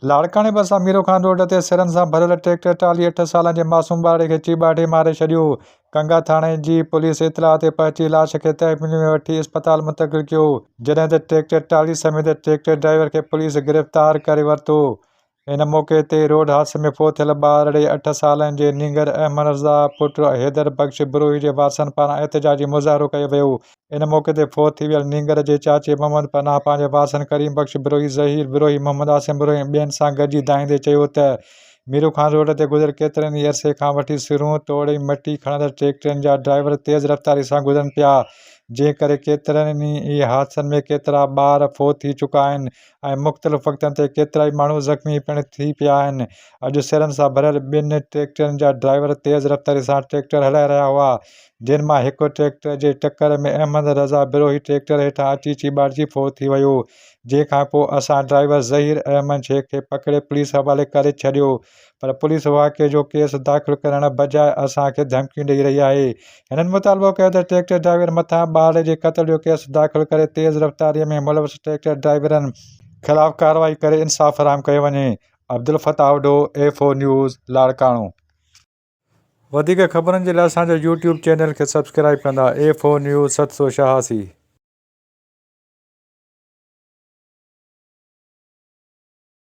لاڙڪاڻي ڀرسان ميرو خان روڊ تي سرن سان ڀريل ٽريڪٽر ٽالهي اٺ سالن جي معصوم ٻارڙي کي چيڀاٽي ماري ڇڏيو، ڪنگا ٿاڻي جي پوليس اطلاع تي پهچي لاش کي تحويل ۾ وٺي اسپتال منتقل ڪيو، جڏهن ته ٽريڪٽر ٽالهي سميت ٽريڪٽر ڊرائيور کي پوليس گرفتار ڪري ورتو، ان موقعي تي روڊ حادثي ۾ فوت ٿيل ٻارڙي اٺ سالن جي نينگر احمدرضا پٽ حيدر بخش بروهي جي وارثن پاران احتجاجي مظاهرو ڪيو ويو ۽ ان موقعي تي فوت ٿي ويل نينگر جي چاچي محمد پناهه پنهنجي وارثن ڪريم بخش بروهي، ظهير بروهي، محمد عاصم بروهي ۽ ٻين سان گڏجي دانهيندي چيو ته ميرو خان روڊ تي گذريل ڪيترن ئي عرصي کان وٺي سرون توڙي مٽي کڻندڙ ٽريڪٽرن جا ڊرائيور تيز رفتاري سان گذرن پيا جنهن ڪري ڪيترن ئي حادثن ۾ ڪيترا ٻار فوت ٿي چڪا آهن ۽ مختلف وقتن تي ڪيترائي ماڻهو زخمي پڻ ٿي پيا آهن اڄ سرن سان ڀريل ٻن ٽريڪٽرن جا ڊرائيور تيز رفتاري سان ٽريڪٽر هلائي رهيا هئا جن مان هڪ ٽريڪٽر جي ٽڪر ۾ احمد رضا بروهي ٽريڪٽر هيٺان اچي چيڀاٽجي ڦوء ٿي ويو جنهن کان پوء اسان ڊرائيور ظهير احمد شيخ کي پڪڙي پوليس حوالي ڪري ڇڏيو پر پوليس واقعي جو ڪيس داخل ڪرڻ بجاء اسان کي ڌمڪيون ڏئي رهي آهي هنن مطالبو ڪيو ته ٽريڪٽر ڊرائيور مٿان ٻارڙي جي قتل جو ڪيس داخل ڪري تيز رفتاري ۾ ملوث ٽريڪٽر ڊرائيورن خلاف ڪارروائي ڪري انصاف فراهم ڪيو وڃي Abdulfattah Odho F O news Larkano. وڌيڪ خبرن جي لاء اسان جو يوٽيوب چينل کي سبسڪرائيب ڪندا اي فور نيوز ست سو شهاسي.